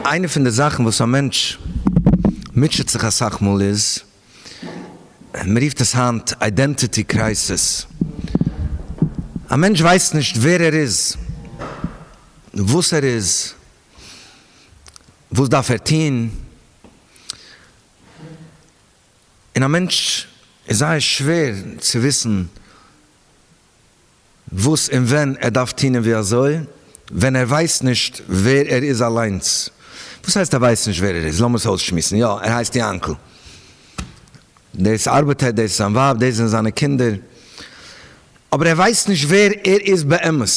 איינע פון די זאכן וואס א מענטש מוטשעט זיך אסאך מאל איז, מען רופט עס היינט אידענטיטי קרייסיס, א מענטש ווייסט נישט ווער ער איז, וואס ער איז, וואס דארף ער טון, און א מענטש איז זייער שווער צו וויסן וואס און ווען ער דארף טון און ווי אזוי, ווען ער ווייסט נישט ווער ער איז אליינס. וואס הייסט ער ווייסט נישט ווער ער איז? לאמיר עס אויסשמועסן. יא, ער הייסט יענקל. דאס ארבעט ער, דאס איז זיין ווייב, דאס זענען זיינע קינדער. אבער ער ווייסט נישט ווער ער איז באמת.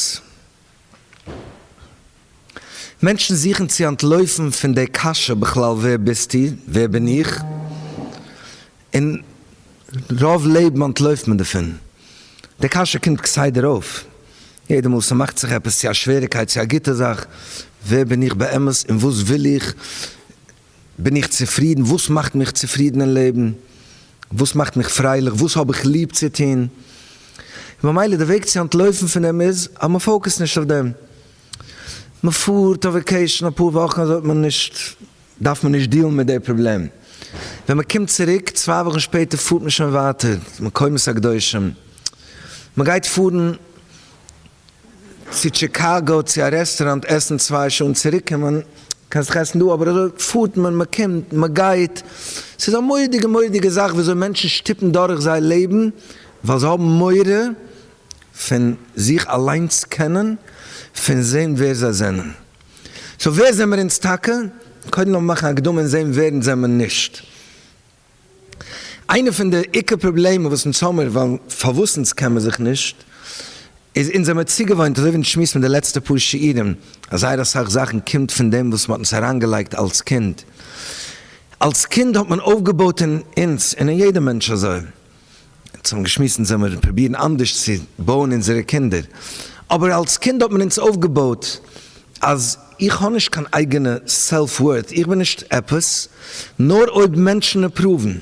מענטשן זוכן צו אנטלויפן פון די קשיא בכלל ווער ביסטו? ווער בין איך? און רוב לעבן אנטלויפט מען דערפון. די קשיא קומט כסדר אויף יעדע מאל ס'מאכט זיך עפעס צו א שוועריקייט צו א גוטע זאך, ווער בין איך באמת און וואס וויל איך? בין איך צופרידן? וואס מאכט מיך צופרידן אין לעבן? וואס מאכט מיך פרייליך? וואס האב איך ליב צו טון? און במילא די וועג צו אנטלויפן פון דעם איז אז מען פאוקעסט נישט אויף דעם. מען פארט אויף וואקעישן אפאר וואכן אזוי האט מען נישט, דארף מען נישט דילן מיט די פראבלעם. ווען מען קומט צוריק צוויי וואכן שפעטער פארט מען שוין ווייטער, מקומות הקדושים. מען גייט פארן. צו טשיקאגא צו א רעסטוראנט עסן צוויי שעה און צוריקקומען, קען זיך עסן דא אבער אזוי פארט מען מען קומט מען גייט, ס'איז א מורא'דיגע מורא'דיגע זאך וויאזוי מענטשן שטופן דורך זייער לעבן ווייל זיי האבן מורא פון זיך אליינס קענען פון זעהן ווער זיי זענען, סאו ווער זעמער אונז טאקע? קודם לאמיר מאכן הקדמה און זעהן ווער אונז זעמער נישט. איינע פון די עיקר פראבלעמען וואס אונז האמיר, ווייל פארוואס אונז קען מען זיך נישט, איז אונז זעמיר צוגעוואוינט אזוי ווי אונז שמועסן מיט די לעצטע פאר שיעורים, אז זייער אסאך זאכן קומט פון דעם וואס מ'האט אונז אריינגעלייגט אלס קינד. אלס קינד האט מען אויפגעבויט אין אונז און אין יעדע מענטש אזוי. אונז האבן געשמועסט אונז זעמיר פרובירן אנדערש צו בויען אונזערע קינדער, אבער אלס קינד האט מען אונז אויפגעבויט אז איך האב נישט קיין אייגענע סעלף ווארט, איך בין נישט עפעס נאר אויב מענטשן אפראוון.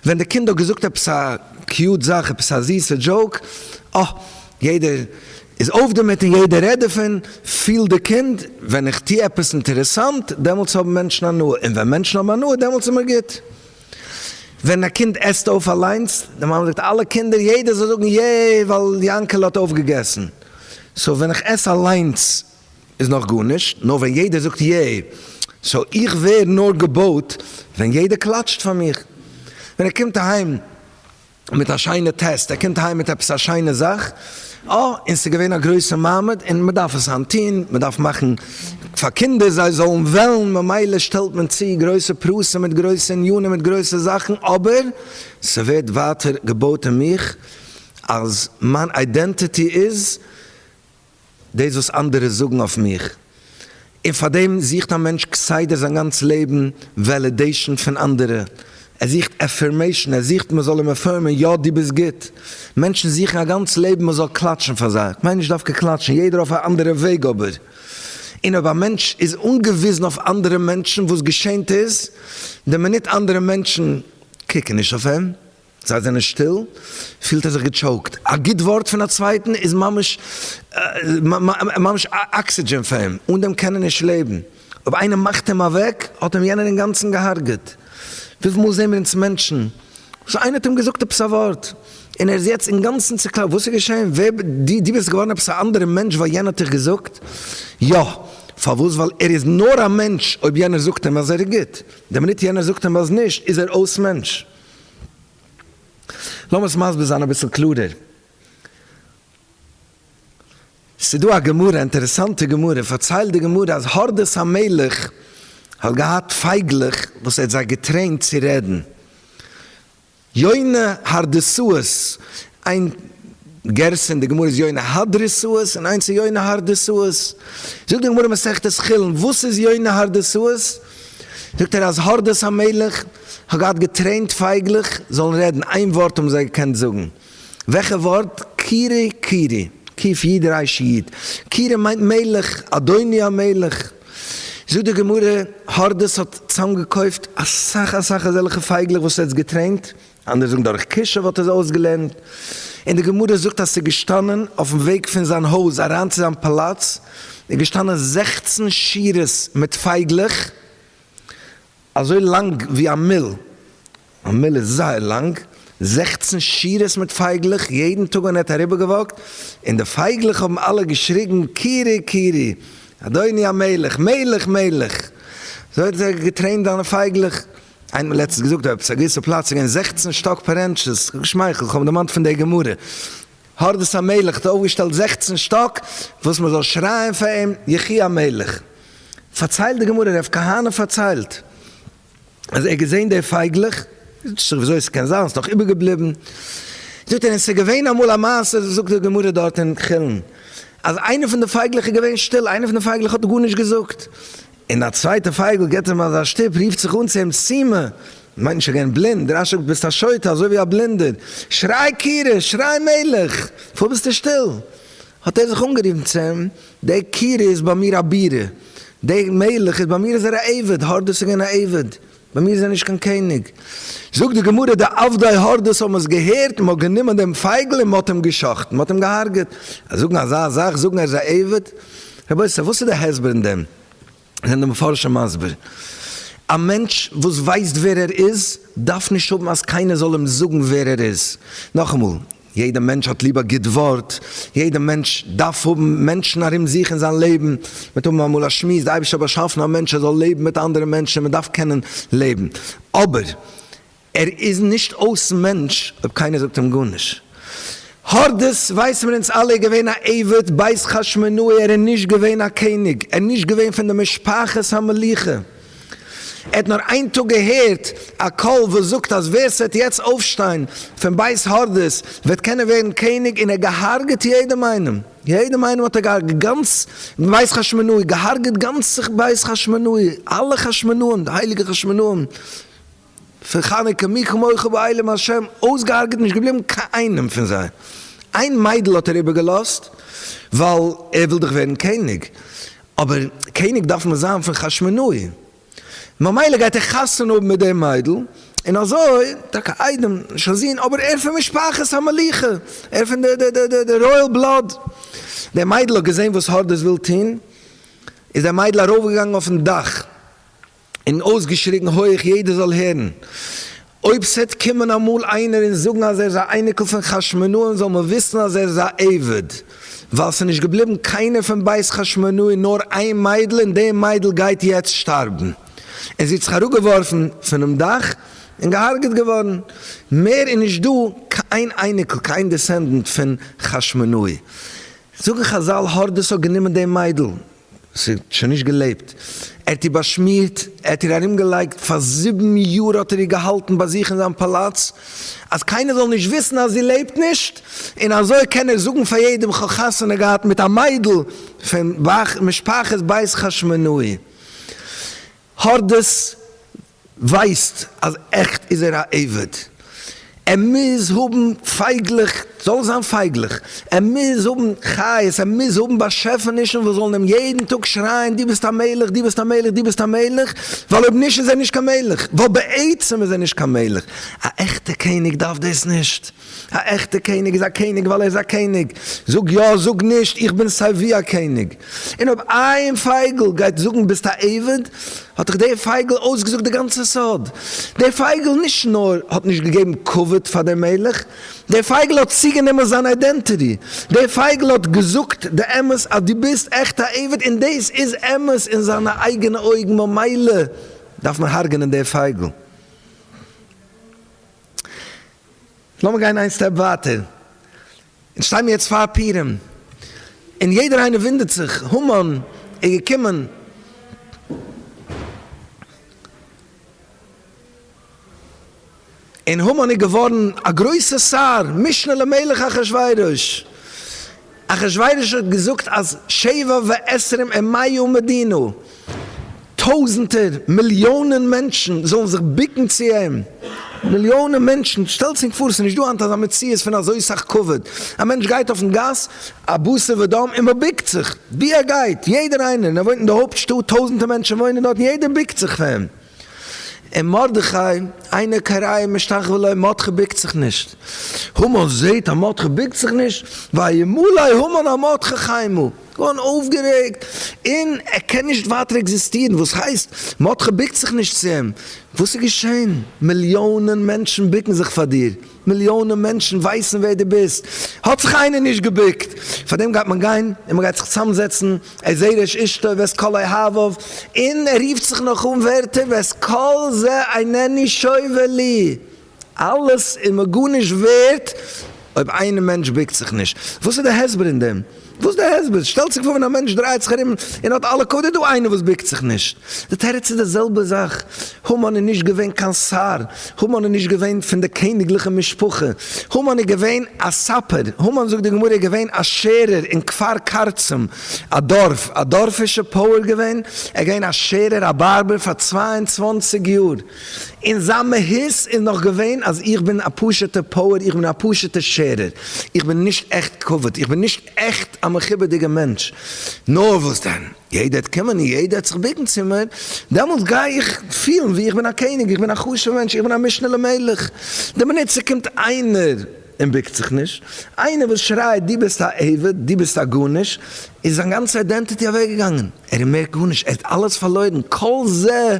ווען די קינד האט געזאגט עפעס א קיוט זאך, עפעס א זיסע דזשאוק, אה, יעדער איז אויף דערמיט און יעדער רעדט דערפון, פילט די קינד, ווען איך טו עפעס אינטערעסאנט, דעמאלטס האבן מענטשן הנאה, און ווען מענטשן האבן הנאה דעמאלטס איז מיר גוט. ווען א קינד עסט אויף אליינס, די מאמע זאגט אלע קינדער יעדער זאל זאגן יע ווייל יענקעלע האט אויפגעגעסן, סאו ווען איך עס אליינס איז נאך גארנישט, נאר ווען יעדער זאגט יע, סאו איך ווער נאר געבויט ווען יעדער קלאטשט פאר מיר, ווען ער קומט אהיים. מיט א שיינע טעסט, ער קומט אהיים מיט עפעס א שיינע זאך, אה, און ס'איז געווען א גרויסע מעמד, און מ'דארף עס היינט טון, מ'דארף מאכן פאר קינדער זיי זאלן וועלן, ממילא שטעלט מען צו גרויסע פרסים מיט גרויסע ענינים מיט גרויסע זאכן, אבער ס'ווערט ווייטער געבויט אין מיך אז מיין אידענטיטי איז. דאס וואס אנדערע זאגן אויף מיך. און פארדעם זוכט א מענטש כסדר זיין גאנץ לעבן וועלידעישן פון אנדערע. ער זוכט עפירמעישן, ער זוכט מ'זאל אים עפירמען, יא דו ביסט גוט. מענטשן זוכן א גאנץ לעבן מ'זאל קלאטשן פאר זיי. כ'מיין נישט דווקא קלאטשן, יעדער אויף א אנדערע וועג אבער. און אויב א מענטש איז אנגעוויזן אויף אנדערע מענטשן, וואס געשענט איז, די מינוט אנדערע מענטשן קוקן נישט אויף אים, זיי זענען שטיל, פילט ער זיך געטשאוקט, א גוט ווארט פון א צווייטן איז ממש ממש אקסידזשען פאר אים, אן דעם קען ער נישט לעבן, אויב איינער מאכט אים אוועק האט אים יענער אינגאנצן געהארגעט, וויפיל מאל זעען מיר אונז מענטשן, שוין איינער האט אים געזאגט עפעס א ווארט און ער איז יעצט אינגאנצן צוקלאפט, וואס איז געשען? ווער די? די ביסט געווארן עפעס א אנדערע מענטש ווייל יענער האט דיך געזאגט? יא, פארוואס? ווייל ער איז נאר א מענטש, אויב יענער זאגט אים אז ער איז גוט, די מינוט יענער זאגט אים אז נישט איז ער אויס מענטש, לאמיר עס מסביר זיין אביסל קלארער. ס'איז דא א גמרא, אינטערעסאנטע גמרא, פארציילט די גמרא אז הורדוס המלך האט געהאט פייגלעך וואס ער האט זיי געטרעינט צו רעדן. יונה הרדסאות, איין גרסה אין די גמרא איז יונה הדרסות און איינס איז יונה הרדסות. זאגט די גמרא מסכת חולין וואס איז יונה הרדסות? זאגט ער אז הרדס המלך האט געהאט געטרעינט פייגלעך זאלן רעדן, איין ווארט האבן זיי געקענט זאגן, וועלכע ווארט? קירי קירי, קיף איד רייש איד, קירי מיינט מלך, אדוני המלך. זאגט די גמרא הרדס האט צאמגעקויפט אסאך אסאך אזעלכע פייגלעך וואס ער האט געטרעינט, אנדערע זאגן דורך כישוף האט ער זיי אויסגעלערנט, און די גמרא זאגט אז ס'איז געשטאנען אויפן וועג פון זיין הויז אריין צו זיין פאלאץ איז געשטאנען זעכצן שורות מיט פייגלעך אזוי לאנג ווי א מיל, א מיל איז זייער לאנג, זעכצן שורות מיט פייגלעך יעדן טאג ווען ער האט אריבערגעוואקט, און די פייגלעך האבן אלע געשריגן קירי קירי אדוני המלך, מלך מלך, אזוי האט ער געטרעינט זיינע פייגלעך. איינער האט לעצטנס געזאגט אויף עפעס א געוויסע פלאץ איז געווען זעכצן שטאק פערענטשעס, כ'האב געשמייכלט, כ'האב דערמאנט פון די גמרא, הורדוס המלך האט אויפגעשטעלט זעכצן שטאק וואס מ'זאל שרייען פאר אים יחי המלך, פארציילט די גמרא, ר' כהנא פארציילט אז ער האט געזען די פייגלעך, זאגט זיך וויאזוי ס'קען זיין, ס'איז דאך איבערגעבליבן, זאגט ער און ס'איז געווען אמאל א מעשה, זאגט די גמרא דארט אין חולין, אז איינע פון די פייגלעך איז געווען שטיל, איינע פון די פייגלעך האט גארנישט געזאגט, און א צווייטער פייגל גיט אים אזא שטופ, רופט זיך אן צו אים, סימא, מיינט שוין געווען בלינד, דער רשע ביסט א שוטה אזוי ווי א בלינדער, שריי קירש, שריי מלך, פארוואס ביסטו שטיל? האט ער זיך אנגערופן צו אים, דער קירש איז ביי מיר א בירה, דער מלך איז ביי מיר איז ער א עבד, הארט דאס איז געווען א עבד, ביי מיר איז ער נישט קיין קעניג. זאגט די גמרא די עבדי הורדוס האבן עס געהערט און מען האט גענומען דעם פייגל און מען האט אים גע'שחט'ן, מען האט אים געהארגעט. אז זאגן אזא זאך, זאגן ער איז א עבד? רבותי וואס איז די הסבר אין דעם? זענען די מפרשים מסביר, א מענטש וואס ווייסט ווער ער איז דארף נישט האבן אז קיינער זאל אים זאגן ווער ער איז. נאכאמאל, יעדע מענטש האט ליב א גוט ווארט, יעדע מענטש דארף האבן מענטשן ארום זיך אין זיין לעבן, מ'וועט האבן אמאל א שמועס, די אייבערשטער האט באשאפן א מענטש ער זאל לעבן מיט אנדערע מענטשן און מ'דארף קענען לעבן, אבער ער איז נישט אויס מענטש אויב קיינער זאגט אים גארנישט, הורדוס ווייס מיר אונז אלע איז געווען א עבד בית חשמונאי ער איז נישט געווען א קעניג, ער איז נישט געווען פון די משפחת המלוכה. ער האט נאר איין טאג געהערט א קול וואס זאגט אז ווער ס'וועט יעצט אויפשטיין פון בית הורדוס וועט קענען ווערן קעניג, און ער האט געהארגעט יעדעם איינעם, יעדעם איינעם האט ער געהארגעט, גאנץ בית חשמונאי, געהארגעט גאנץ בית חשמונאי, אלע חשמונאים, די הייליגע חשמונאים. פון חנוכה מי כמוך בעולם השם אויסגעהארגעט נישט געבליבן קיין איינעם פון זיי, איין מיידל האט ער איבער געלאזט ווייל ער וויל דאך ווערן קעניג, אבער קעניג דארף מען זיין פון חשמונאי, ממילא גייט ער חתונה האבן מיט די מיידל, און אזוי, טאקע איידעם, נישט א זון, אבער ער פון משפחת המלוכה, ער פון די די די די רויעל בלאד, די מיידל האט געזען וואס הורדוס וויל טון, איז די מיידל ארויף געגאנגען אויפן דאך, און אויסגעשריגן הויך יעדער זאל הערן, אויב ס'עט קומען אמאל איינער און זאגן אז ער איז א אייניקל פון חשמונאים זאל מען וויסן אז ער איז א עבד, ווייל ס'נישט געבליבן קיינער פון בית חשמונאי נאר איין מיידל און די מיידל גייט יעצט שטארבן, און זי האט זיך אראפגעווארפן פונעם דאך און געהארגעט געווארן, מער איז נישט דא קיין אייניקל קיין דיסענדענט פון חשמונאי, זאגן חזל הארדעס האט גענומען די מיידל. ס'האט שוין נישט געלעבט. ער האט איר באשמירט, ער האט איר ארומגעלייגט, פאר זיבן יאר האט ער איר געהאלטן ביי זיך אין זיין פאלאץ, אז קיינער זאל נישט וויסן אז זי לעבט נישט, און אזוי קען ער זאגן פאר יעדעם כ'האב חתונה געהאט מיט א מיידל פון משפחת בית חשמונאי. הארדעס ווייסט אז עכט איז ער א עבד, ער מוז האבן פייגלעך, זאל עס זיין פייגלעך, ער מוז האבן חיות, ער מוז האבן באשעפענישן וואס זאלן אים יעדן טאג שרייען דו ביסט א מלך, דו ביסט א מלך, דו ביסט א מלך, ווייל אויב נישט איז ער נישט קיין מלך, ווייל בעצם איז ער נישט קיין מלך, א עכטע קעניג דארף דאס נישט. א עכטע קעניג איז א קעניג ווייל ער איז א קעניג, זאג יא זאג נישט, איך בין סיי ווי א קעניג, און אויב איין פייגל גייט זאגן ביסט א עבד, האט דאך דער פייגל אויסגעזאגט די גאנצע סוד, דער פייגל נישט נאר האט נישט געגעבן כבוד פאר דער מלך, דער פייגל האט צוגענומען זיין אידענטיטי, דער פייגל האט געזאגט די אמת אז דו ביסט עכט א עבד און דאס איז אמת אין זיינע אייגענע אויגן ממילא דארף מען הרג'נען דער פייגל. לאמיר גיין איין סטעפ ווייטער, אונז שטיי מיר יעצט פאר פורים, און יעדער איינער וואונדערט זיך, המן איז געקומען, און המן איז געווארן א גרויסע שר, משנה למלך אחשורוש, אחשורוש האט געזאגט אז שבע ועשרים עמי ומדינו, טויזענטער, מיליאנען מענטשן זאלן זיך בוקן צו אים, מיליאנען מענטשן, שטעלטס ענק פאר, עס איז נישט דא היינט אזא מציאות פון אזוי סאך כבוד, א מענטש גייט אויפן גאס, א בשר ודם, און מען בוקט זיך, ווי ער גייט, יעדער איינער, און ער וואוינט אין די הויפט שטאט, טויזענטער מענטשן וואוינען דארט, און יעדער בוקט זיך פאר אים. און מרדכי, איינער קריה משתחווה לו, מרדכי בוקט זיך נישט. המן זעט אז מרדכי בוקט זיך נישט, וימלא המן על מרדכי חיימא, גאון אויפגערעגט, און ער קען נישט ווייטער עקזיסטירן, וואס הייסט? מרדכי בוקט זיך נישט צו אים? וואס איז געשען? מיליאנען מענטשן בוקן זיך פאר דיר, מיליאנען מענטשן ווייסן ווער דו ביסט, האט זיך איינער נישט געבוקט, פארדעם גייט מען גיין און מען גייט זיך צאמזעצן, ער זעהט ר' אישתא ואת כל אוהביו, און ער רופט זיך נאך אן ווערטער ואת כל זה אינני שובה לי, אלעס איז מיר גארנישט ווערט אויב איין מענטש בוקט זיך נישט, וואס איז די הסבר אין דעם? וואס די הסבר? שטעלט זיך פאר ווען א מענטש דרייט זיך ארום און האט אלע קאוד איז דא איינער וואס ביקט זיך נישט. די תירוץ איז די זעלבע זאך, המן איז נישט געווען קיין שר, המן איז נישט געווען פון די קעניגליכע משפחה, המן איז געווען א ספר, המן זאגט די גמרא איז געווען א שערער אין כפר קרצים, א דארף, א דארפישע פועל געווען, ער איז געווען א שערער א בארבער פאר צוויי און צוואַנציק יאר. און זיין מהות איז נאך געווען אז איך בין א פשוט'ע פועל, איך בין א פשוט'ע שערער, איך בין נישט עכט כבוד, איך בין נישט עכט א מכובד'יגע מענטש. נאר וואס דען, יעדער וועט קומען און יעדער וועט זיך ביקן צו מיר, דעמאלט גיי איך פילן ווי איך בין א קעניג, איך בין א חשוב'ע מענטש, איך בין א משנה למלך. דער באנוצער קומט איינער. און בוקט זיך נישט, איינער וואס שרייט דו ביסט א עבד, דו ביסט א גארנישט, איז זיין גאנצע אידענטיטי אוועקגעגאנגען, ער איז מער גארנישט, ער האט אלעס פארלוירן, כל זה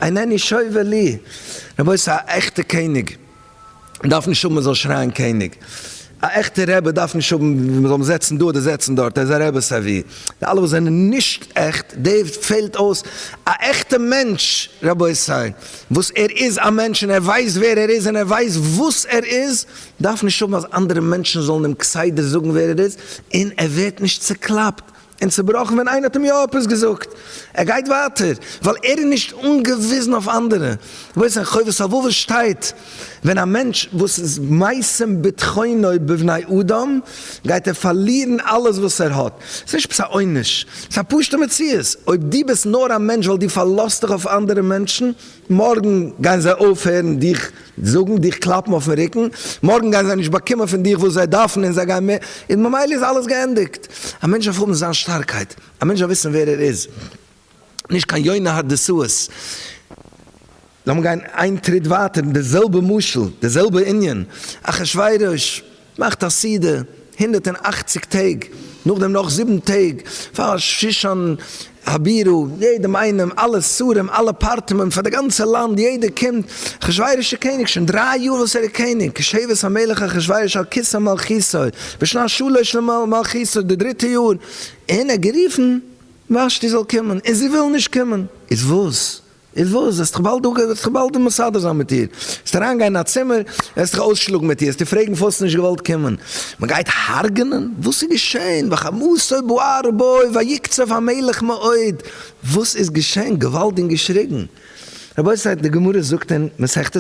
אינני שובה לי, רבותי א עכטע קעניג דארף נישט האבן מען זאל שרייען קעניג, א עכטע רבי דארף נישט האבן מען זאל אים זעצן דא אדער זעצן דארט, ער איז א רבי סיי ווי, די אלע וואס זענען נישט עכט, די פעלט אויס א עכטע מענטש רבותי. וואס ער איז א מענטש און ער ווייסט ווער ער איז און ער ווייסט וואס ער איז, דארף נישט האבן אז אנדערע מענטשן זאלן אים כסדר זאגן ווער ער איז, און ער ווערט נישט צוקלאפט און צובראכן ווען איינער האט אים יא עפעס געזאגט, ער גייט ווייטער ווייל ער איז נישט אנגעוויזן אויף אנדערע, וואס אין חובת הלבבות שטייט. ווען א מענטש וואס איז מיישם בטחונו בבני אדם גייט ער פארלירן אלעס וואס ער האט, ס'איז נישט עפעס א עונש, ס'איז א פשוט'ע מציאות, אויב דו ביסט נאר א מענטש ווייל דו פארלאזט דיך אויף אנדערע מענטשן, מארגן גייען זיי אויפהערן דיך זאגן, דיך קלאפן אויפן רוקן, מארגן גייען זיי נישט באקומען פון דיך וואס זיי דארפן און זיי גייען מער, און ממילא איז אלעס געענדיגט. א מענטש דארף האבן זיין שטארקייט, א מענטש דארף וויסן ווער ער איז, נישט קיין יונה האט די סועס. לאמיר גיין איין טריט ווייטער, די זעלבע משל, די זעלבע ענין, אחשורוש מאכט א סעודה הונדערט און אַכציק טעג, נאכדעם נאך זיבן טעג פאר שושן הבירה, יעדעם איינעם, אלע שרים, אלע פארטעמען פאר די גאנצע לאנד, יעדער קומט, אחשורוש איז קעניג שוין דריי יאר וואס ער איז קעניג, כשבט המלך אחשורוש על כסא מלכותו, בשנת שלש למלכותו, די דריטע יאר, און ער האט גערופן. ושתי זאל קומען און זי וויל נישט קומען, איז וואס? איז וואס? וועסטעך באלד אפ, וועסטעך באלד מסדר זיין מיט איר, וועסט אריין גיין אין א צימער, וועסטעך אויסשלאגן מיט איר, וועסט איר פרעגן פארוואס האסט נישט געוואלט קומען, מען גייט הרג'נען? וואס איז געשען? וחמסו בוער בו ויקצף המלך מאוד, וואס איז געשען? געוואלד און געשריגן. רבותי די גמרא זאגט אין מסכת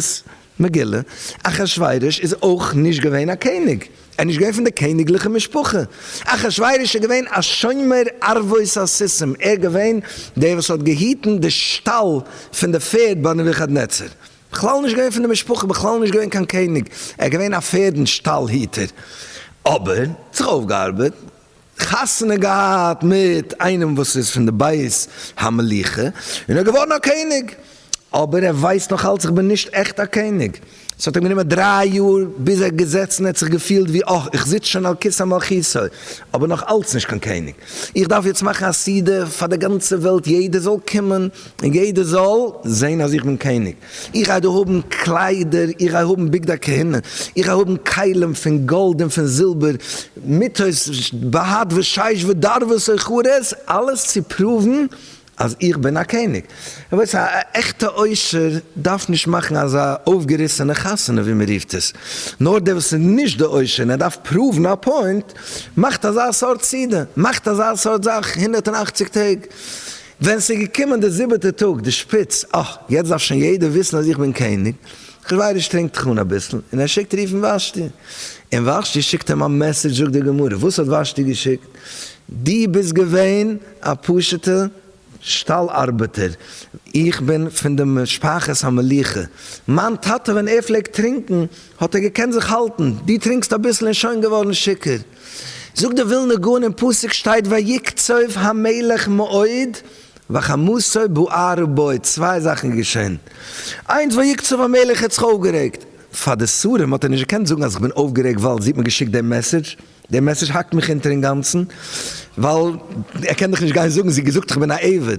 מגילה, אחשורוש איז אויך נישט געווען א קעניג, ער איז נישט געווען פון די קעניגליכע משפחה, אחשורוש איז געווען א שומר ערבות הסיסים, ער איז געווען דער וואס האט געהיטן די שטאל פון די פערד ביי נבוכדנצר, בכלל נישט געווען פון די משפחה, בכלל נישט געווען קיין קעניג, ער איז געווען א פערדן שטאל היטער, אבער זיך אויפגעארבעט חתונה געהאט מיט איינעם וואס איז פון די בית המלוכה און ער איז געווארן א קעניג, אבער ער ווייסט נאך אלץ איך בין נישט עכט א קעניג, עס האט אים גענומען דריי יאר ביז ער האט געזעצן ער האט זיך געפילט ווי אה איך זיץ שוין על כסא מלכותו אבער נאך אלץ נישט קיין קעניג, איך דארף יעצט מאכן א סעודה פאר די גאנצע וועלט יעדער זאל קומען און יעדער זאל זען אז איך בין קעניג, איך גיי דיר האבן קליידער, איך גיי האבן בגדי כהונה, איך גיי האבן כלים פון גאלד און פון זילבער, מיתות בהד ושיש ודרבו סוחרות, אלעס צו פראוון אז איך בין א קעניג. רבותי, א עכטע עושר דארף נישט מאכן אזא אויפגעריסענע חתונה ווי מען רופט עס, נאר דער וואס איז נישט די עושר און ער דארף פראוון א פוינט, מאכט אזא סארט סעודה, מאכט אזא סארט זאך הונדערט און אַכציק טעג, ווען ס'איז געקומען די זיבעטע טאג, די שפיץ, אה, יעצט דארף שוין יעדער וויסן אז איך בין קעניג, אחשורוש טרינקט זיך אן אביסל, און ער שיקט רופן וושטי. און וושטי שיקט אים א מעסעדזש, זאגט די גמרא, וואס האט וושטי געשיקט? דו ביסט געווען א פשוטע שטאל ארבעטער, איך בין פון די משפחת המלוכה, מיין טאטע ווען ער פלעגט טרינקן האט ער געקענט זיך האלטן, דו טרינקסט אביסל און שוין געווארן שיכור. זאגט די ווילנא גאון אין פסוק שטייט ויקצוף המלך מאוד וחמסו בער ובועט צוויי זאכן איז געשען איינס ויקצוף המלך ער האט זיך אויפגערעגט פאר די שרים האט ער נישט געקענט זאגן אז איך בין אויפגערעגט ווייל זי האט מיר געשיקט דעם מעסעדזש דער מעסעדזש האקט מיך אונטער אינגאנצן ווייל ער קען דאך נישט גיין זאגן זי האט געזאגט איך בין א עבד.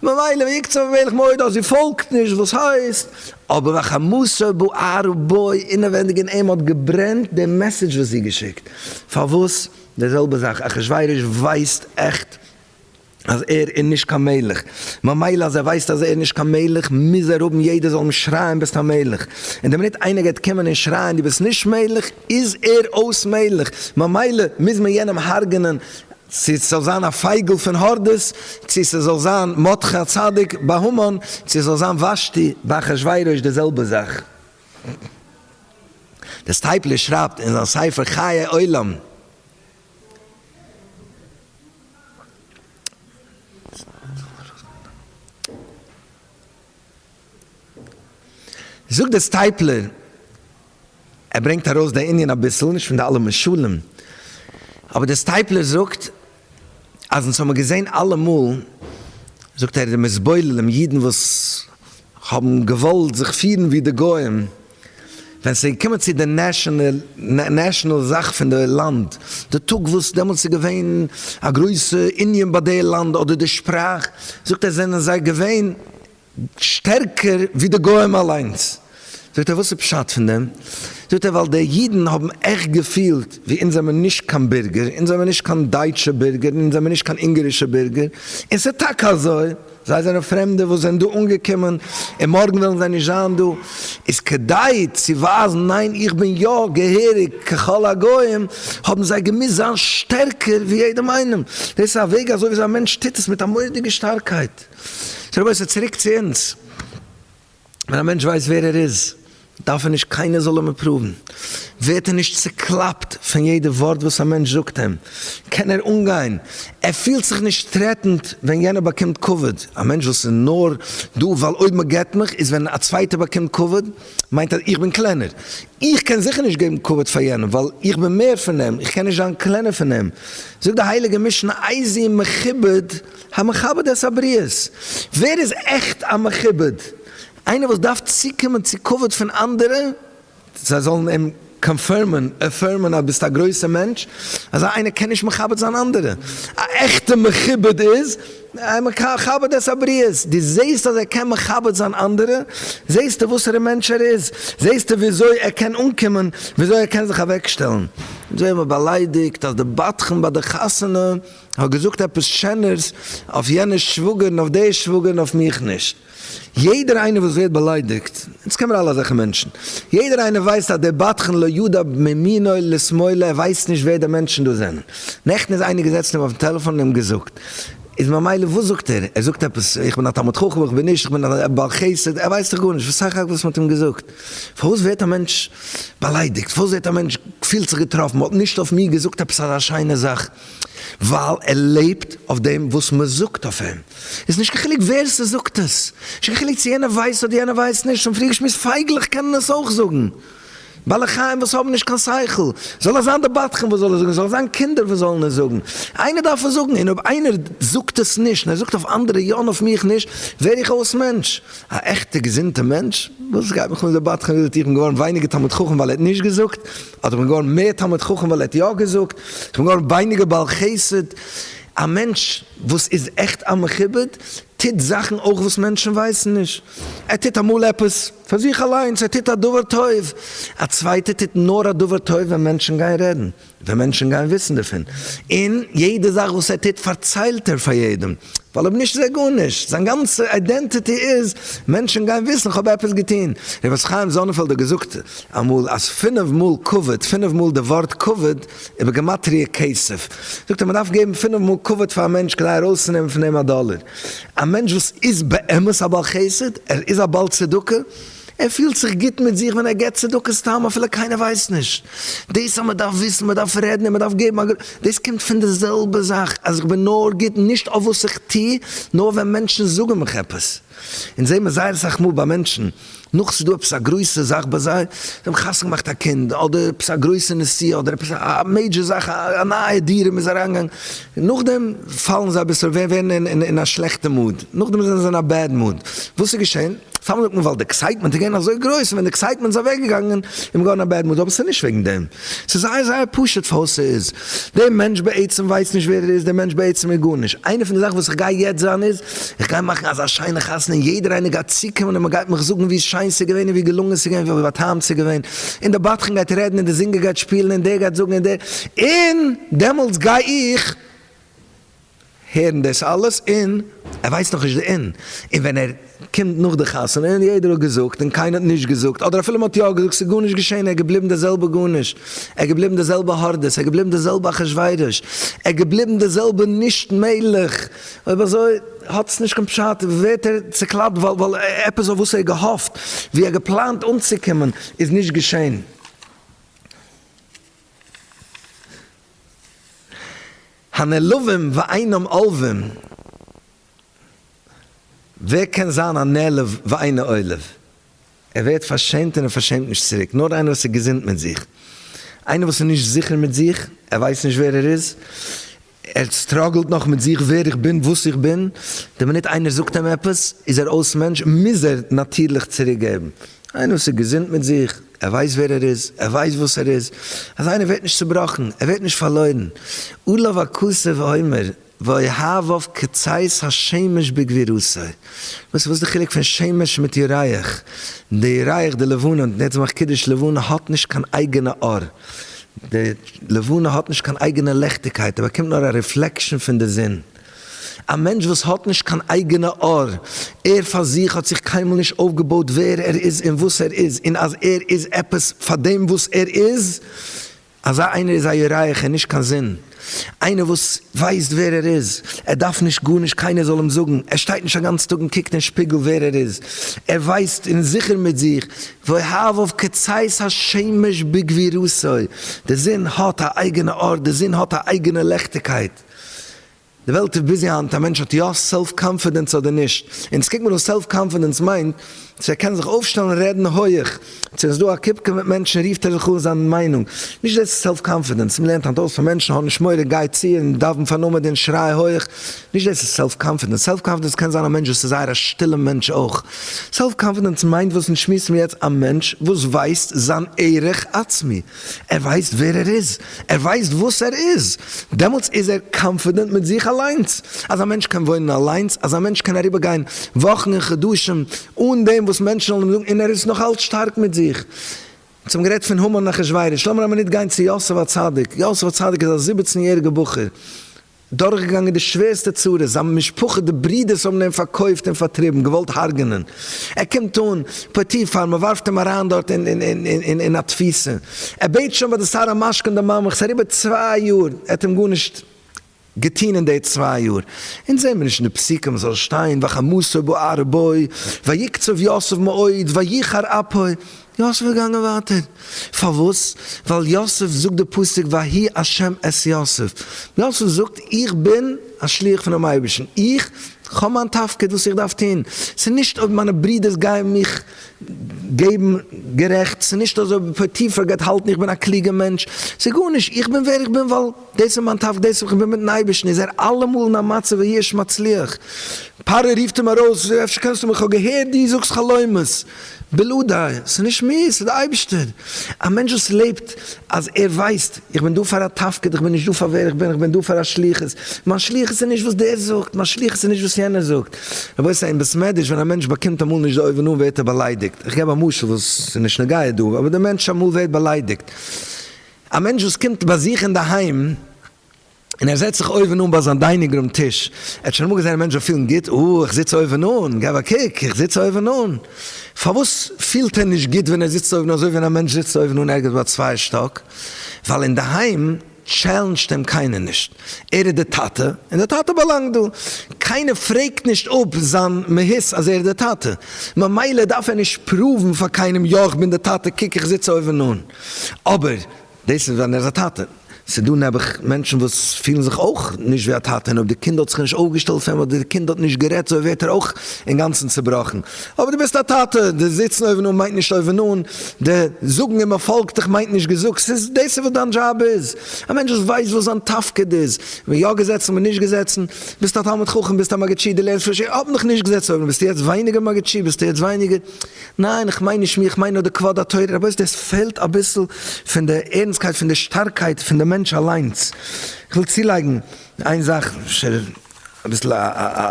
ממילא ויקצף המלך מאוד אז זי פאלגט נישט וואס הייסט אבער והחמסה בער ובו אינעווענדיג אין אים האט געברענט די מעסעדזש וואס זי געשיקט פארוואס די זעלבע זאך אחשורוש ווייסט עכט אז ער איז נישט קיין מלך ממילא אז ער ווייסט אז ער איז נישט קיין מלך מוז ער האבן יעדער זאל אים שרייען ביסט א מלך און די מינוט איינער גייט קומען און שרייען דו ביסט נישט מלך איז ער אויס מלך ממילא מוז מען יענעם הרג'נען צו עס זאל זיין א פייגל פון הורדוס, צו עס זאל זיין מרדכי הצדיק ביי המן, צו עס זאל זיין ושתי ביי אחשורוש די זעלבע זאך. דער סטייפלער שרייבט אין זיין ספר חיי עולם, זאגט דער סטייפלער, ער ברענגט ארויס די ענין אביסל, נישט פון די אלע משלים, אבער דער סטייפלער זאגט אז אונז האמער געזען אלעמאל, זאגט ער, די מזבוללים, אידן וואס האבן געוואלט זיך פירן ווי די גוים, ווען ס'איז געקומען צו די נעשאנעל זאך פון די לאנד, די טאג וואס דעמאלטס איז געווען א גרויסע ענין ביי די לאנד אדער די שפראך, זאגט ער זענען זיי געווען. שטערקער ווי די גוים אליינס. זאגט ער וואס איז פשט פון דעם? זאגט ער ווייל די אידן האבן עכט געפילט ווי אונז זעמיר נישט קיין בירגער, אונז זעמיר נישט קיין דייטשע בירגער און אונז זעמיר נישט קיין אונגערישע בירגער, און ס'איז טאקע אזוי, זיי זענען פרעמדע וואס זענען דא אנגעקומען און מארגן וועלן זיי נישט זיין דא, איז כדי צו ווייזן ניין איך בין יא געהעריג ככל הגוים האבן זיי געמוזט זיין שטערקער ווי יעדעם איינעם, דאס איז א וועג אזוי וויאזוי א מענטש טוט עס מיט א מורא'דיגע שטארקייט. סאו רבותי צוריק צו אונז, ווען א מענטש ווייסט ווער ער איז דארף ער נישט קיינער זאל אים אפראוון, ווערט ער נישט צוקלאפט פון יעדע ווארט וואס א מענטש זאגט אים, קען ער אנגיין, ער פילט זיך נישט טרעטענד ווען יענער באקומט כבוד, א מענטש וואס איז נאר דא ווייל אויב מען געבט מיך, איז ווען א צווייטער באקומט כבוד מיינט אז איך בין קלענער, איך קען זיכער נישט געבן כבוד פאר יענעם ווייל איך בין מער פון אים, איך קען נישט זיין קלענער פון אים, זאגט די הייליגע משנה איזי מכובד. המכבד את הבריות, ווער איז עכט א מכובד? איינער וואס דארף צוקומען צו כבוד פון אנדערע, זיי זאלן אים קאנפירמען, עפערמען אז ביסט א גרויסער מענטש, אזא איינער קען נישט מכבד זיין אנדערע. א עכטע מכובד איז המכבד את הבריות, דו זעסט אז ער קען מכבד זיין אנדערע, זעסטו וואסערע מענטש ער איז, זעסטו וויאזוי ער קען אנקומען, וויאזוי ער קען זיך אוועקשטעלן, אזוי האבן מיר באליידיגט אז די בדחן ביי די חתונה, כ'האב געזאגט עפעס שענערס אויף יענע שוואגערן אויף די שוואגערן אויף מיך נישט. יעדער איינער וואס ווערט באליידיגט, אונז קען מיר אלע אזעלכע מענטשן, יעדער איינער ווייסט אז דער בדחן לא ידע מימינו לשמאלו, ער ווייסט נישט ווער די מענטשן דא זענען. נעכטן איז איינער געזעצן אים אויפן טעלעפאן און אים געזאגט, איז ממילא וואס זאגט ער? ער זאגט עפעס איך בין א תלמיד חכם איך בין נישט איך בין א בעל חסד, ער ווייסט דאך גארנישט וואס סך הכל וואס מ'האט אים געזאגט. פארוואס ווערט א מענטש באליידיגט? פארוואס ווערט א מענטש פילט זיך געטראפן? מ'האט נישט אויף מיר געזאגט עפעס אזא שיינע זאך? ווייל ער לעבט אויף דעם וואס מען זאגט אויף אים, איז נישט קיין חילוק ווער ס'זאגט עס, נישט קיין חילוק צו יענער ווייסט אדער יענער ווייסט נישט, שוין פריער געשמועסט, פייגלעך קענען עס אויך זאגן, בעלי חיים וואס האבן נישט קיין שכל, זאל עס זיין די בדחן וואס זאל עס זאגן, זאל עס זיין קינדער וואס זאלן עס זאגן, איינער דארף עס זאגן, און אויב איינער זאגט עס נישט, און ער זאגט אויף אנדערע יא און אויף מיך נישט, ווער איך אויס מענטש? א עכטע געזונטע מענטש? וואס גייט מיך אן די בדחן וויפיל תיכף געווארן ווייניגער תלמיד חכם ווייל ער האט נישט געזאגט? אדער איך בין געווארן מער תלמיד חכם ווייל ער האט יא געזאגט, איך בין געווארן ווייניגער בעל חסד, א מענטש וואס איז עכט א מכובד טוט זאכן אויך וואס מענטשן ווייסן נישט, ער טוט אמאל עפעס פאר זיך אליינס, ער טוט א דבר טוב, א צווייטער טוט נאר א דבר טוב ווען מענטשן גייען רעדן, ווען מענטשן גייען וויסן דערפון, און יעדע זאך וואס ער טוט פארציילט ער פאר יעדעם. ווייל אויב נישט איז ער גארנישט, זיין גאנצע אידענטיטי איז מענטשן גייען וויסן איך האב עפעס געטון. רבי משה חיים זאנענפעלד האט געזאגט אמאל אז פינף מאל כבוד, פינף מאל די ווארט כבוד איז בגימטריא כסף. זאגט ער מ'דארף געבן פינף מאל כבוד פאר א מענטש כדי ארויסצונעמען פון אים א דאלער. א מענטש וואס איז באמת א בעל חסד, ער איז א בעל צדקה, ער פילט זיך גוט מיט זיך ווען ער געבט צדקה סתם אפילו קיינער ווייסט נישט. דאס אז מען דארף וויסן, מען דארף רעדן און מען דארף געבן א גרוש, דאס קומט פון די זעלבע זאך אז איך בין נאר גוט נישט אויף וואס איך טו, נאר ווען מענטשן זאגן מיך עפעס. אונז זעמער זייער אסאך מאל ביי מענטשן, נאך ס'איז דא עפעס א גרויסע זאך ביי זיי, זיי האבן חתונה געמאכט א קינד, אדער עפעס א גרויסע נסיעה, אדער עפעס א מעידזשער זאך, א נייע דירה מ'איז אריינגעגאנגען, נאכדעם פאלן זיי אביסל, ווערן אין א שלעכטע מאד, נאכדעם זענען זיי אין א בעד מאד. וואס איז געשען? סתם זאגט מען ווייל די עקסייטמענט איז געווען אזוי גרויס און ווען די עקסייטמענט איז אוועק געגאנגען איז מען געווארן א בעד מוד אבער ס'איז נישט וועגן דעם ס'איז זייער זייער פשוט פארוואס ס'איז דער מענטש בעצם ווייסט נישט ווער ער איז דער מענטש בעצם איז גארנישט איינע פון די זאכן וואס איך גיי יעצט זיין איז איך גיי מאכן אזא שיינע חתונה און יעדער איינער גייט צוקומען און מען גייט מיך זאגן ווי שיין ס'איז געווען און ווי געלונגען ס'איז געווען ווי באטעמט ס'איז געווען און די בדחן גייט רעדן און די זינגער גייט שפילן און דער גייט זאגן און דער און דעמאלטס גיי איך הערן דאס אלעס און ער ווייסט נאכנישט די און און ווען ער קומט נאך די חתונה און יעדער האט געזאגט און קיינער האט נישט געזאגט אדער אפילו מען האט יא געזאגט ס'איז גארנישט געשען ער איז געבליבן די זעלבע גארנישט ער איז געבליבן די זעלבע הורדוס ער איז געבליבן די זעלבע אחשורוש ער איז געבליבן די זעלבע נישט מעגליך אויב אזוי האט עס נישט קיין פשט ווערט ער צוקלאפט ווייל עפעס אויף וואס ער האט געהאפט ווי ער האט געפלאנט אנצוקומען איז נישט געשען. הנעלבים ואינם עולבים, ווער קען זיין א נעלב ואינו עולב? ער ווערט פארשעמט און ער פארשעמט נישט צוריק, נאר איינער וואס איז געזונט מיט זיך, איינער וואס איז נישט זיכער מיט זיך, ער ווייסט נישט ווער ער איז, ער סטראגלט נאך מיט זיך ווער איך בין, וואס איך בין, די מינוט איינער זאגט אים עפעס איז ער אויס מענטש, מוז ער נאטירליך צוריקגעבן, איינער וואס איז געזונט מיט זיך, ער ווייסט ווער ער איז, ער ווייסט וואס ער איז, אזא איינער ווערט נישט צובראכן, ער ווערט נישט פארלוירן, עליו הכסף האומר ויהבב כציץ השמש בגבירותו, וואס איז די חילוק פון שמש מיט ירח, די ירח די לבנה, און יעצט מאך קידוש, לבנה האט נישט קיין אייגענע אור, די לבנה האט נישט קיין אייגענע לעכטיגקייט, ער באקומט נאר א ריפלעקשאן פון די זון. א מענטש וואס האט נישט קיין אייגענע אור, ער פאר זיך האט זיך קיינמאל נישט אויפגעבויט ווער ער איז און וואס ער איז און אז ער איז עפעס פאר דעם וואס ער איז, אזא איינער איז א ירח און נישט קיין זון, איינער וואס ווייסט ווער ער איז, ער דארף נישט גארנישט קיינער זאל אים זאגן, ער שטייט נישט א גאנץ טאג און קוקט אין שפיגל ווער ער איז, ער ווייסט און איז זיכער מיט זיך, והבהב כצאת השמש בגבירותו, די זון האט א אייגענע אור, די זון האט א אייגענע לעכטיגקייט. די וועלט איז ביזי היינט א מענטש האט יא סעלף קאנפידענס אדער נישט, און צו קוקן וואס סעלף קאנפידענס מיינט, צו ער קען זיך אויפשטעלן און רעדן הויעך, צו עס איז דא א קופקע מיט מענטשן רופט ער זיך אן זיין מיינונג, נישט דאס איז סעלף קאנפידענס, מען לערנט היינט אויס פאר מענטשן האב נישט מורא גיי צו און דאווען פאר נאמען און שריי הויעך, נישט דאס איז סעלף קאנפידענס, סעלף קאנפידענס קען זיין א מענטש וואס איז זייער א שטילע מענטש אויך, סעלף קאנפידענס מיינט וואס אונז שמועסן מיר יעצט א מענטש וואס ווייסט זיין ערך עצמי, ער ווייסט ווער ער איז, ער ווייסט וואס ער איז, דעמאלטס איז ער קאנפידענט מיט זיך אליינס, אז א מענטש קען וואוינען אליינס, אז א מענטש קען אריבער גיין וואכן און חדשים אן דעם וואס מענטשן זאלן אים זאגן, און ער איז נאך אלץ שטארק מיט זיך. אונז האבן גערעדט פון המן אחשורוש, לאמיר א מינוט גיין צו יוסף הצדיק, יוסף הצדיק איז א זיבעצן יעריגע בחור, דורכגעגאנגען די שווערסטע צרות, זיין משפחה די ברודערס האבן אים פארקויפט און פארטריבן, געוואלט הרג'נען, ער קומט אן פוטיפר, מען ווארפט אים אריין דארט אין א תפיסה, ער בעט שוין ביי די שר המשכון די מאמך, ס'איז אריבער צוויי יאר, ער האט אים גארנישט געטון אין די צוויי יאר, אונז זעהן מיר נישט אין די פסוקים זאל שטיין וחמסו בארבו ויקצוב יוסף מאוד ויחר אפו, יוסף איז געגאנגען ווייטער. פארוואס? ווייל יוסף זאגט די פסוק ויהי השם את יוסף. יוסף זאגט, איך בין א שליח פונעם אייבערשטן. איך האב מיין תפקיד וואס איך דארף טון. ס'איז נישט אויב מיינע ברודערס גייען מיך געבן גערעכט, ס'איז נישט אויב פוטיפר גייט האלטן איך בין א קלוגע מענטש, ס'איז גארנישט. איך בין ווער איך בין ווייל. דאס איז מיין תפקיד, דאס וואס איך בין מיטן אייבערשטן, איז ער אלעמאל אין א מצב ווי ער איז מצליח, פרעה רופט אים ארויס, אפשר קענסטו מיך, איך האב געהערט דו זאגסט חלומות, בלא די, ס'איז נישט מיר, ס'איז די אייבערשטער, א מענטש וואס לעבט אז ער ווייסט, איך בין דא פאר א תפקיד, איך בין נישט דא פאר ווער איך בין, איך בין דא פאר א שליחות, מיין שליחות איז נישט וואס דער זאגט, מיין שליחות איז נישט וואס יענער זאגט, רבותי אין בית מדרש ווען א מענטש באקומט אמאל נישט די אויבן אן ווערט ער באליידיגט, איך געב א משל וואס איז נישט נוגע דא, אבער דער מענטש אמאל ווערט באליידיגט, א מענטש וואס קומט באזוך אינדערהיים און ער זעצט זיך אויבן אן ביי זיין דיינינג רום טיש, ער האט שוין אמאל געזען א מענטש זיך פילן גוט? אה, איך זיץ אויבן אן, געב א קוק, איך זיץ אויבן אן. פארוואס פילט ער נישט גוט ווען ער זיצט אויבן אן אזוי ווי ווען א מענטש זיצט אויבן אן ערגעץ ביי א צווייער שטאק? ווייל אינדערהיים טשעלענדזשט אים קיינער נישט, ער איז די טאטע און די טאטע באלאנגט דא, קיינער פרעגט נישט אפ זיין מהות אז ער איז די טאטע, ממילא דארף ער נישט פראוון פאר קיינעם יא איך בין די טאטע קוק איך זיץ אויבן אן. אבער דאס איז ווען ער איז א טאטע, ס'איז דא נעבעך מענטשן וואס פילן זיך אויך נישט ווי א טאטע, און אויב די קינד האט זיך נישט אויפגעשטעלט פאר אים, אדער די קינד האט נישט גערעדט צו אים, ווערט ער אויך אינגאנצן צובראכן. אבער דו ביסט א טאטע, די זיצן אויבן אן מיינט נישט אויבן אן, די זאגן און מען פאלגט דיך מיינט נישט געזאגט, ס'איז דאס איז וואס דיין דזשאב איז, א מענטש וואס ווייסט וואס זיין תפקיד איז, מען יא געזעצן מען נישט געזעצן, ביסט א תלמיד חכם ביסט א מגיד שיעור דו לערנסט פון שיעור, האבן דיך נישט געזעצט אויבן ביסטו יעצט ווייניגער מגיד שיעור, ביסטו יעצט ווייניגער. ניין איך מיין נישט מיר איך מיין נאר די כבוד התורה רבותי עס פעלט אביסל פון די ערנסקייט פון די שטארקייט פון די מענטש אליינס איך וויל צולייגן איין זאך אפשר אביסל א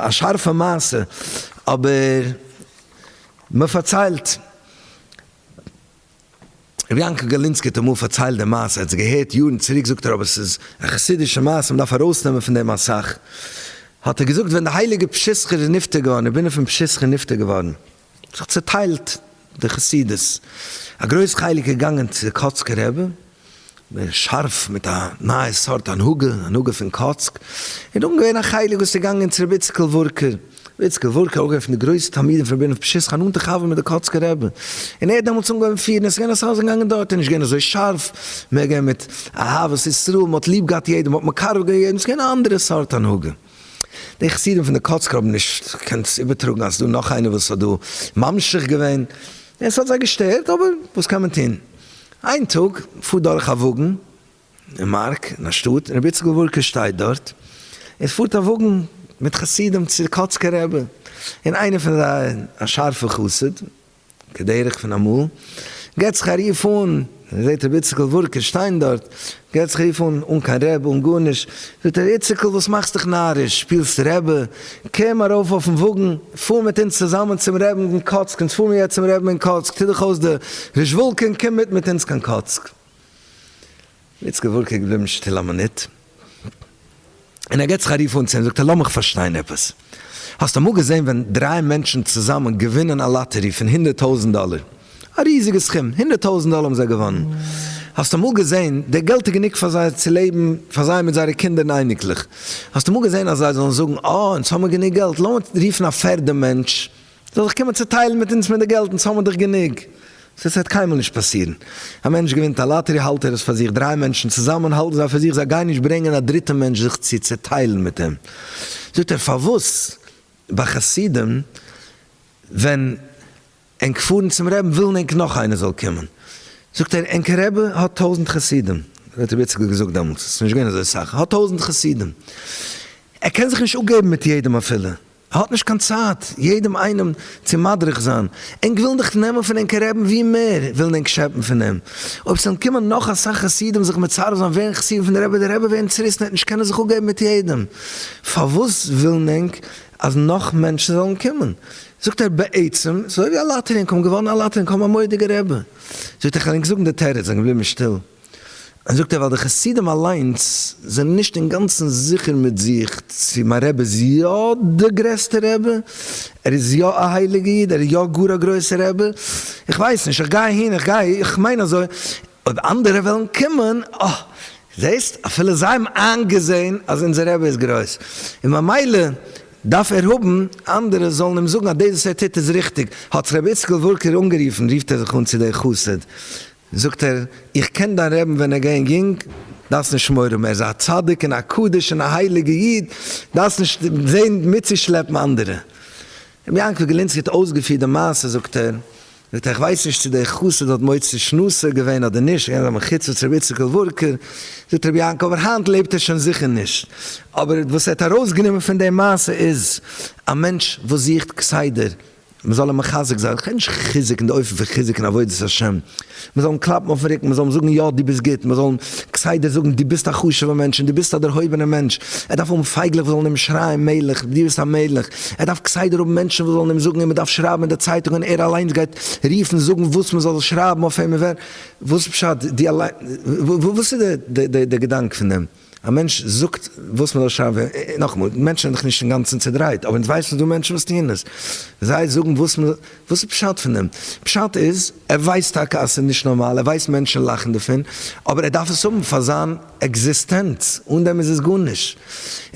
א שארפע מעשה אבער מען פארציילט רבי יעקב גארלינסקי האט אמאל פארציילט די מעשה ער האט עס געהערט יארן צוריק זאגט ער אבער עס איז א חסידישע מעשה מען דארף ארויסנעמען פון דעם אסאך האט ער געזאגט ווען די הייליגע פשיסחא איז נפטר געווארן רבינו פון פשיסחא איז נפטר געווארן. זיך צוטיילט די חסידות, א גרויס חלק איז געגאנגען צו קאצקער רבי, מער שארף מיט א נייע סארט הנהגה, הנהגה פון קאצק, און דאן געווען א חלק וואס איז געגאנגען צו רבי איציקל וואורקער, רבי איציקל וואורקער אויך געווען פון די גרויסע תלמידים פון רבינו מפשיסחא, א נאנטע חבר מיט די קאצקער רבי, און ער האט דעמאלטס אנגעהויבן פירן, עס איז געווען אסאך וואס זענען געגאנגען דארט, איז נישט געווען אזוי שארף, מער געווען מיט אהבת ישראל, מען האט ליב געהאט יעדעם, מען האט מקרב געווען יעדעם, עס איז געווען א אנדערע סארט הנהגה. די חסידים פון די קאצקער האבן נישט געקענט איבערטראגן אז ס'דא נאך איינער וואס האט דא ממשיך געווען, און ס'האט זיי געשטערט, אבער וואס קען מען טון. איין טאג פארט דורך א וואגן אין מארק אין א שטאט, און רבי איציקל וואורקער שטייט דארט, און ס'פארט א וואגן מיט חסידים צו די קאצקער רבי, און איינער פון זיי א שארפער חסיד, כדרך פון אמאל, געט זיך א רוף אן, און ער זעט רבי איציקל וואורקער שטיין דארט, געט זיך א רוף אן, אן קיין רעב, אן גארנישט, זאגט ער, ר' איציקל, וואס מאכסט דיך נאריש, שפילסט רעבע? קום ארויף אויפן וואגן, פאר מיט אונז צוזאמען צום רעבן אין קאצק, אונז פארן יעצט צום רעבן אין קאצק, טו דיך אויס די רישוואלקע און קום מיט מיט אונז קיין קאצק. איצקע וואלט איז געבליבן שטיל א מינוט, און ער גיט זיך א רוף אן צו אים, זאגט ער, לאמיך פארשטיין עפעס, האסט אמאל געזען ווען דריי מענטשן צוזאמען געווינען א לאטערי פון הונדערט טויזנט דאלער? א ריזיגע סכום, הונדערט טויזנט דאלער האבן זיי געוואנען. האסט אמאל געזען, די געלט איז גענוג פאר זיי צו לעבן, פאר זיי מיט זייערע קינדער און אייניקלעך. האסט אמאל געזען אז זיי זאלן זאגן, אה, אונז האבן גענוג געלט, לאמיר רופן א פערדע מענטש זאל זיך קומען צוטיילן מיט אונז פון די געלט, אונז האמיר דאך גענוג. ס'עס וועט קיינמאל נישט פאסירן. א מענטש געווינט א לאטערי האלט ער עס פאר זיך, דריי מענטשן צוזאמען האלטן זיי פאר זיך, זיי גייען נישט ברענגען א דריטע מענטש זיך צו צוטיילן מיט אים. זאגט ער פארוואס ביי חסידים ווען ענק פארן צום רעבן ווילן ענק נאך איינער זאל קומען. זאגט ער ענק רעבע האט טויזנט חסידים, האט רבי איציקל געזאגט דעמאלטס, עס איז נישט געווען אזוי סאך, האט טויזנט חסידים, ער קען זיך נישט אפגעבן מיט יעדעם אפילו. ער האט נישט קיין צייט יעדעם איינעם צו מדריך זיין, ענק ווילן דאך נעמען פון ענקער רעבין ווי מער ווילן ענק שעפן פון אים, אויב ס'וועלן קומען נאך אסאך חסידים זיך מצרף זיין ווערן חסידים פון די רבי, די רבי ווערן צוריסן עט נישט קענען זיך אפגעבן מיט יעדעם, פארוואס ווילן ענק אז נאך מענטשן זאלן קומען, זאגט ער בעצם ס'אזוי ווי א לאטערי ענק האבן געוואנען א לאטערי ענק האבן א מורא'דיגע רבי, זאגט ער כ'וועל ענק זאגן די תירוץ, זענען געבליבן שטיל. זאגט ער ווייל די חסידים אליינס זענען נישט אינגאנצן זיכער מיט זיך צו מיין רבי איז יא די גרעסטע רבי, ער איז יא א הייליגע איד, ער איז יא גאר א גרויסע רבי, איך ווייס נישט, איך גיי אהין, איך גיי, איך מיין אזוי, אויב אנדערע וועלן קומען, אה, זעסט, אפילו זיי האבן איינגעזען אז אונזער רבי איז גרויס, און ממילא דארף ער האבן אנדערע זאלן אים זאגן אז דאס וואס ער טוט איז ריכטיג, האט זיך רבי איציקל וואורקער אנגערופן, רופט ער זיך אן צו די חסיד, זאגט ער, איך קען דיין רעבן ווען ער געוען יונג, דארפסט נישט מורא האבן, ער איז א צדיק און א קדוש און א הייליגע איד, דארפסט נישט זעהן מיטצושלעפן אנדערע. רבי יעקב גלינסקי האט אויסגעפירט די מעשה זאגט ער, זאגט ער, איך ווייס נישט צו דער חסיד האט מוציא שנאתו געווען אדער נישט, געווען א מחוצף צו רבי איציקל וורקער, זאגט רבי יעקב, אבער היינט לעבט ער שוין זיכער נישט, אבער וואס ער האט ארויסגענומען פון די מעשה איז, א מענטש וואס זוכט כסדר מען זאל אים מחזק זיין, כ'מיין נישט חיזוק אין די אופן פון חיזוק אין עבודת השם, מען זאל אים קלאפן אויפן רוקן, מען זאל אים זאגן יא דו ביסט גוט, מען זאל אים כסדר זאגן דו ביסט א חשוב'ער מענטש און דו ביסט א דערהויבענער מענטש, ער דארף האבן פייגלעך וואס זאלן אים שרייען מלך, דו ביסט א מלך, ער דארף כסדר האבן מענטשן וואס זאלן אים זאגן און מען דארף שרייבן אין די צייטונג און ער אליינס גייט רופן זאגן וואס מען זאל שרייבן אויף אים און ווער, וואס פשט, דו אליין, וואס איז די געדאנק פון דעם? א מענטש זאגט וואס מ'זאל שרייבן און נאכאמאל, מענטשן זענען דאך נישט אינגאנצן צעדרייט, אבער אונז ווייסן ס'איז דא מענטשן וואס טוען עס, זיי זאגן וואס מ'זאל, וואס איז פשט פון דעם? פשט איז, ער ווייסט טאקע אז ס'איז נישט נארמאל, ער ווייסט מענטשן לאכן דערפון, אבער ער דארף עס האבן פאר זיין עקזיסטענץ, אן דעם איז עס גארנישט.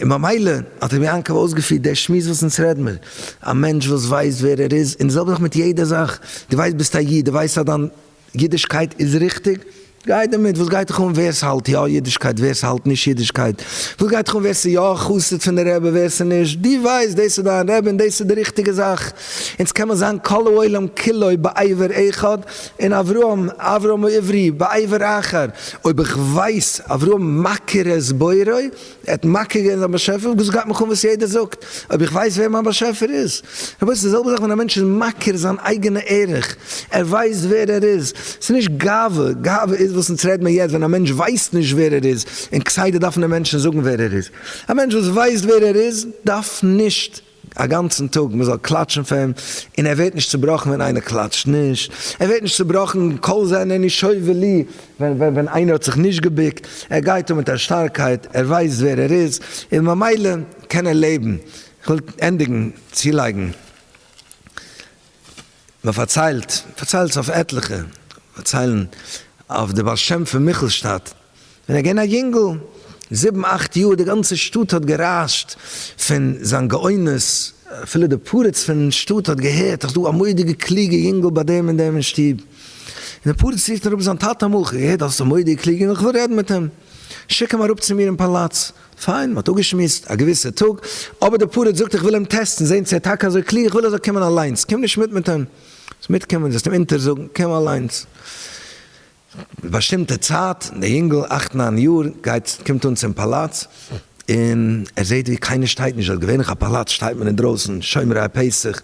און ממילא האט רבי יעקב אויסגעפירט די שמועס וואס אונז רעד מיר, א מענטש וואס ווייסט ווער ער איז, און די זעלבע זאך מיט יעדע זאך, דו ווייסט ביסט א איד, דו ווייסט אז דיין. אידישקייט איז ריכטיג? גיי דערמיט, וואס גייט דיך אן ווער ס'האלט יא אידישקייט ווער ס'האלט נישט אידישקייט? וואס גייט דיך אן ווער ס'יא א חסיד פון די רבי ווער ס'נישט? דו ווייסט דאס איז דיין רבי און דאס איז די ריכטיגע זאך, אונז קען מיר זיין כל העולם כולו בעבר אחד און אברהם אברהם עברי בעבר אחר, אויב איך ווייס אברהם מכיר את בוראו ער האט מכיר געווען זיין באשעפער און געזאגט גייט מיך אן וואס יעדער זאגט, אויב איך ווייס ווער מיין באשעפער איז. רבותי, ס'איז די זעלבע זאך ווען א מענטש איז מכיר זיין אייגענע ערך, ער ווייסט ווער ער איז. ס'איז נישט גאווה, גאווה איז וואס אונז רעד מיר יעצט ווען א מענטש ווייסט נישט ווער ער איז און כסדר דארפן די מענטשן זאגן ווער ער איז. א מענטש וואס ווייסט ווער ער איז דארף נישט. א גאנצן טאג מען זאל קלאטשן פאר אים, און ער ווערט נישט צובראכן ווען איינער קלאטשט נישט, ער ווערט נישט צובראכן קול זה אינני שואב לי ווען איינער האט זיך נישט געבוקט, ער גייט אן מיט א שטארקייט, ער ווייסט ווער ער איז, און ממילא קען ער לעבן. איך וויל ענדיגן, צולייגן. מען פארציילט, פארציילט זיך אויף עטליכע פארציילן אויף די בעל שם פון מיכלשטאט, ווען ער איז געווען א יונגל, זיבן אכט יאר, די גאנצע שטאט האט גערייזשט פון זיין גאונות, אפילו די פרדס פון שטאט האט געהערט אז ס'איז דא א מודיגע קלוגע יונגל ביי דעם און דעם אין שטוב, און די פרדס רופט אראפ זיין טאטע, אמאל כ'האב געהערט אז עס איז א מודיגע קלוגע יונגל, כ'וויל רעדן מיט אים, שיק אים אראפ צו מיר אין פאלאץ. פיין, מ'האט אפגעשמועסט א געוויסע טאג, אבער די פארעט זאגט איך וויל אים טעסטן, זען צו ער טאקע אזוי קלוג, איך וויל ער זאל קומען אליינס, קום נישט מיט מיט אים, זאלסט מיטקומען, זאלסט אים אונטערזאגן, קום אליינס. באשטימטע צייט, דער יונגל, אכט ניין יאר, גייט, קומט אן צום פאלאץ, און ער זעט ווי קיינער שטייט נישט דארט, געווענליך א פאלאץ שטייט מען אינדרויסן, שומרי הפסח,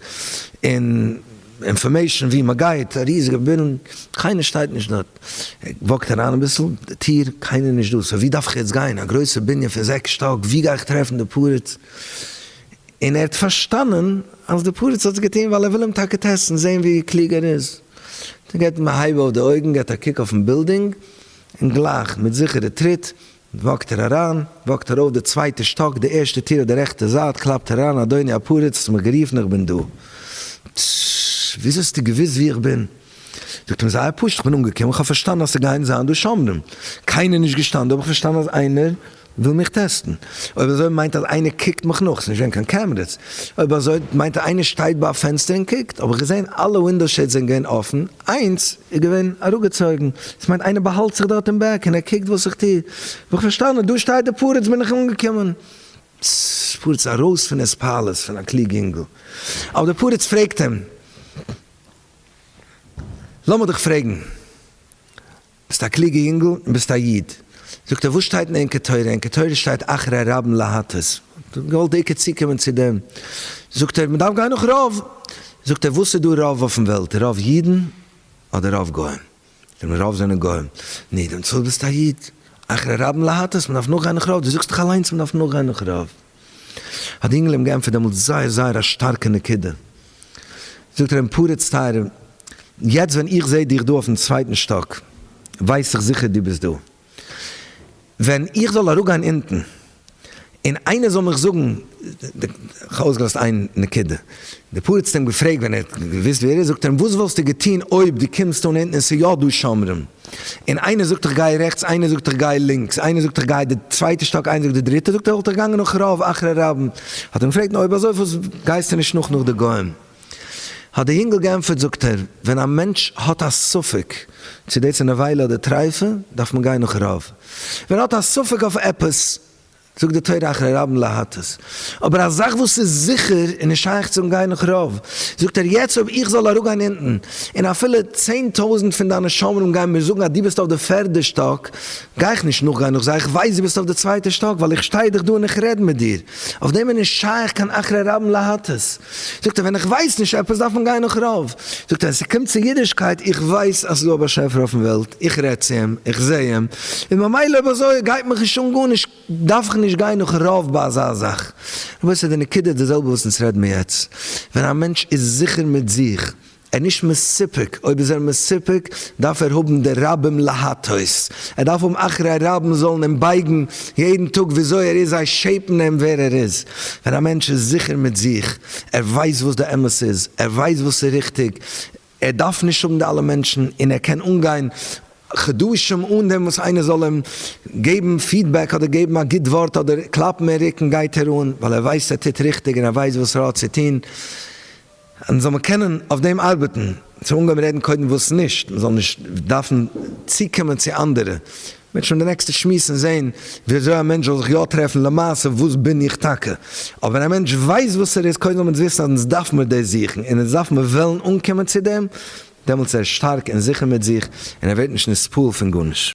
און אינפארמעישן ווי מען גייט, א ריזיגע בנין, קיינער שטייט נישט דארט, ער וואקט אריין אביסל, די טיר, קיינער נישט דא, סא ווי דארף איך יעצט גיין, א גרויסע בנין פון זעקס שטאק, ווי גיי איך טרעפן די פרץ, און ער האט פארשטאנען אז די פרץ האט עס געטון ווייל ער וויל אים טאקע טעסטן, זען ווי קלוג ער איז, דער גט מ הייב אויף די אויגן, געט א קוק אויפן בילדינג, און גלייך, מיט זיכערע טריט, וואקט ער אריין, וואקט ער ארויף די צווייטע שטאק, די ערשטע טיר אויף די רעכטע זייט, קלאפט ער אריין, אדוני הפריץ, האסט מיך גערופן, איך בין דא. טששש, וויאזוי האסטו געוואוסט וואו איך בין? זאגט אים, זייער פשוט, איך בין אנגעקומען, איך האב פארשטאנען אז ס'גייען זיין דא שומרים, קיינער נישט געשטאנען דא, האב איך פארשטאנען אז איינער וויל מיך טעסטן, אויב אזוי מיינט אז איינער קוקט מיך נאך, ס'איז נישט געווען קיין קעמרעס, אויב אזוי מיינט אז איינער שטייט ביי א פענסטער און קוקט, האב איך געזען אלע ווינדאו שעידס זענען געווען אפן, איינס איז געווען אראפגעצויגן, דאס מיינט איינער באהאלט זיך דארט אין בעק און ער קוקט וואס איך טו, ווי איך פארשטאנען דא שטייט די פרדס בין איך אנגעקומען. ס פרדס ארויס פון איז פאלעס פון א קלוג אינגל, אבער די פרדס פרעגט אים לאמיר דיך פרעגן. ביסט א קלוגע יונגל און ביסט א איד. זאגט ער וואס שטייט אין ענקער תורה? ענקער תורה שטייט אחרי הרבים להטות. כ'האב געוואלט דיקא צוקומען צו דעם. זאגט ער מ'דארף גיין נאך רוב. זאגט ער וואס איז דא רוב אויפן וועלט? רוב אידן אדער רוב גוים? זאגט מען רוב זענען גוים. נו דעמאלטס ביסט א איד. אחרי הרבים להטות, מ'דארף נאכגיין נאך רוב. דו זאגסט דאך אליינס מ'דארף נאכגיין נאך רוב. האט די יונגעלע אים געענטפערט דעמאלטס זייער זייער א שטארקע נקודה, זאגט ער אים פרץ טייערער, יעצט ווען איך זעה דיך דא אויפן צווייטן שטאק, ווייס איך זיכער דו ביסט דא, ווען איך זאל אראפגיין אונטן און איינער זאל מיך זאגן, איך האב אויסגעלאזט איין נקודה, די פּרץ האָט אים געפֿרעגט, ווען ער האָט געוווּסט ווער ער איז, זאָגט ער אים, וואָס וואָלסטו געטאָן, אויב דו קומסט אָן אונטן און ס'איז יאָ דאָ שומרים, און איינער זאָגט איך גיי רעכטס, איינער זאָגט איך גיי לינקס, איינער זאָגט איך גיי די צווייטע שטאָק, איינער זאָגט די דריטע, זאָגט ער, וואָלט איך געגאַנגען נאָך רב אחרי רבן. האָט ער אים געפֿרעגט, נו, אויב אַזוי, פֿאַרוואָס גייסטו נישט נאָך נאָך די גויים? האָט דער ייִנגל געענטפֿערט, זאָגט ער, ווען אַ מענטש האָט אַ ספֿק, צי דאָס איז נבֿלה אָדער טרייפֿה, דאַרף מען גיין נאָך רב. ווען ער האָט אַ ספֿק אויף עפּעס, זאגט די תורה אחרי רבים להטות. אבער א זאך וואס איז זיכער און איז שייך צום גיין נאך רוב, זאגט ער יעצט אויב איך זאל אראפגיין אונטן און אפילו צען טויזנט פון דיינע שומרים גייען מיר זאגן אז דו ביסט אויף די פערדע שטאק, גיי איך נישט נאכגיין נאך זיי, איך ווייס דו ביסט אויף די צווייטע שטאק ווייל איך שטיי דאך דא און איך רעד מיט דיר. אויף דעם איז נישט שייך קיין אחרי רבים להטות. זאגט ער ווען איך ווייס נישט עפעס דארף מען גיין נאך רוב, זאגט ער ווען ס'קומט צו אידישקייט איך ווייס אז ס'איז דא א באשעפער אויפן וועלט, איך רעד צו אים, איך זעה אים, און ממילא אויב אזוי גייט מיך נישט אן גארנישט, דארף איך נישט גיין נאך רוב ביי אזא זאך. רבותי די נקודה איז די זעלבע וואס אונז רעד מיר יעצט, ווען א מענטש איז זיכער מיט זיך ער איז נישט מסופק, אויב איז ער מסופק דארף ער האבן די רבים להטות, ער דארף האבן אחרי רבים זאלן אים בייגן יעדן טאג וויאזוי ער איז, זיי שעיפן אים ווער ער איז, ווען א מענטש איז זיכער מיט זיך, ער ווייסט וואס די אמת איז, ער ווייסט וואס איז ריכטיג, ער דארף נישט האבן די אלע מענטשן, און ער קען אנגיין חדשים אן דעם וואס איינער זאל אים געבן פידבעק אדער געבן א גוט ווארט אדער קלאפן אין רוקן, גייט ער אן ווייל ער ווייסט ער טוט ריכטיג און ער ווייסט וואס ר' האט צו טון. און זאל מען קענען אויף דעם ארבעטן, צו אנגעהויבן רעדן קודם וואס נישט, מען זאל נישט דארפן צוקומען צו אנדערע, מען וועט שוין די נעקסטע שמועס און זען ווי אזוי א מענטש זאל זיך יא טרעפן למעשה וואס בין איך טאקע, אבער ווען א מענטש ווייסט וואס ער איז, קודם זאל מען וויסן אז אונז דארף מיר דאס זוכן און אונז דארף מיר וועלן אנקומען צו דעם, דעמאלטס איז ער שטארק און זיכער מיט זיך און ער ווערט נישט נספעל פון גארנישט.